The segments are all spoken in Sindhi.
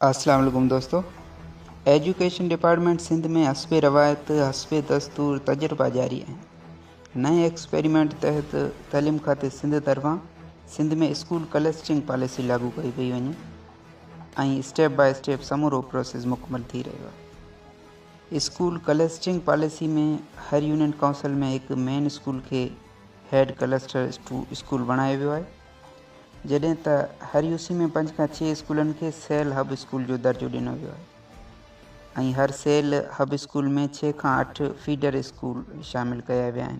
السلام عليڪم دوستو ايجوڪيشن ڊپارٽمينٽ سنڌ ۾ حسب روايت حسب دستور تجربا جاري آهن نئين ايڪسپيريمينٽ تحت تعليم کاتي سنڌ طرفان سنڌ ۾ اسڪول ڪلسٽرنگ پاليسي لاڳو ڪئي پئي وڃي ۽ اسٽيپ باء اسٽيپ سمورو پروسيس مڪمل ٿي رهيو آهي اسڪول ڪلسٽرنگ پاليسي ۾ هر يونين ڪائونسل ۾ هڪ مين اسڪول کي هيڊ ڪلسٽر اسڪول بڻايو ويو آهي جڏهن ته هر يو سي ۾ پنج کان ڇهه اسڪولن کي سيل هب اسڪول جو درجو ڏنو ويو آهي ۽ هر سيل هب اسڪول ۾ ڇهه کان اٺ فيڊر اسڪول شامل ڪيا ويا آهن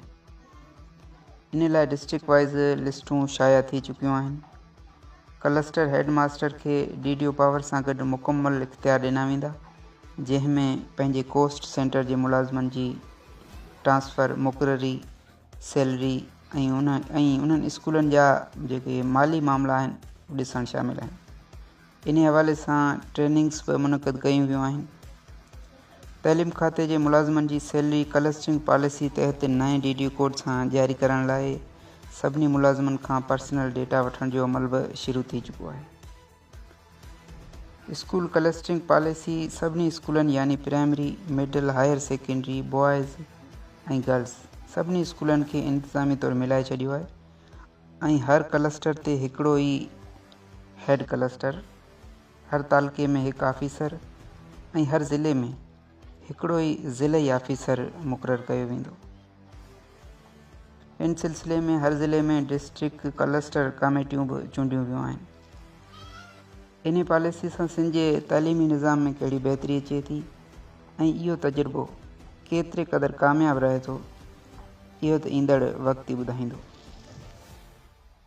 ان لاء ڊسٽرڪٽ وائز لسٽون شايع ٿي چڪيون آهن ڪلسٽر هيڊ ماستر کي ڊي ڊي او پاور سان گڏ مڪمل اختيار ڏنا ويندا جنهن ۾ پنهنجي ڪوسٽ سينٽر جي ملازمن جي ٽرانسفر مقرري سيلري ۽ انهن اسڪولن جا جيڪي مالي معاملا آهن ڏسڻ شامل آهن انهي حوالي سان ٽريننگس به منعقد ڪيون ويون آهن تعليم کاتي جي ملازمن جي سيلري ڪلسٽرنگ پاليسي تحت نئين ڊي ڊي ڪوڊ سان جاري ڪرڻ لاء سڀني ملازمن کان پرسنل ڊيٽا وٺڻ جو عمل به شروع ٿي چڪو آهي اسڪول ڪلسٽرنگ پاليسي سڀني اسڪولن يعني primary, middle, higher secondary, boys ۽ girls سڀني اسڪولن کي انتظامي طور ملائي ڇڏيو آهي ۽ هر ڪلسٽر تي هڪڙو ئي هيڊ ڪلسٽر، هر تعلقي ۾ هڪ آفيسر ۽ هر ضلعي ۾ هڪڙو ئي ضلعي آفيسر مقرر ڪيو ويندو. ان سلسلي ۾ هر ضلعي ۾ ڊسٽرڪٽ ڪلسٽر ڪاميٽيون به چونڊيون ويون آهن. انهيء پاليسيء سان سنڌ جي تعليمي نظام ۾ ڪهڙي بهتري اچي ٿي ۽ اهو تجربو ڪيتري قدر ڪامياب رهي ٿو، اهو ته ايندڙ وقت ئي ٻڌائيندو.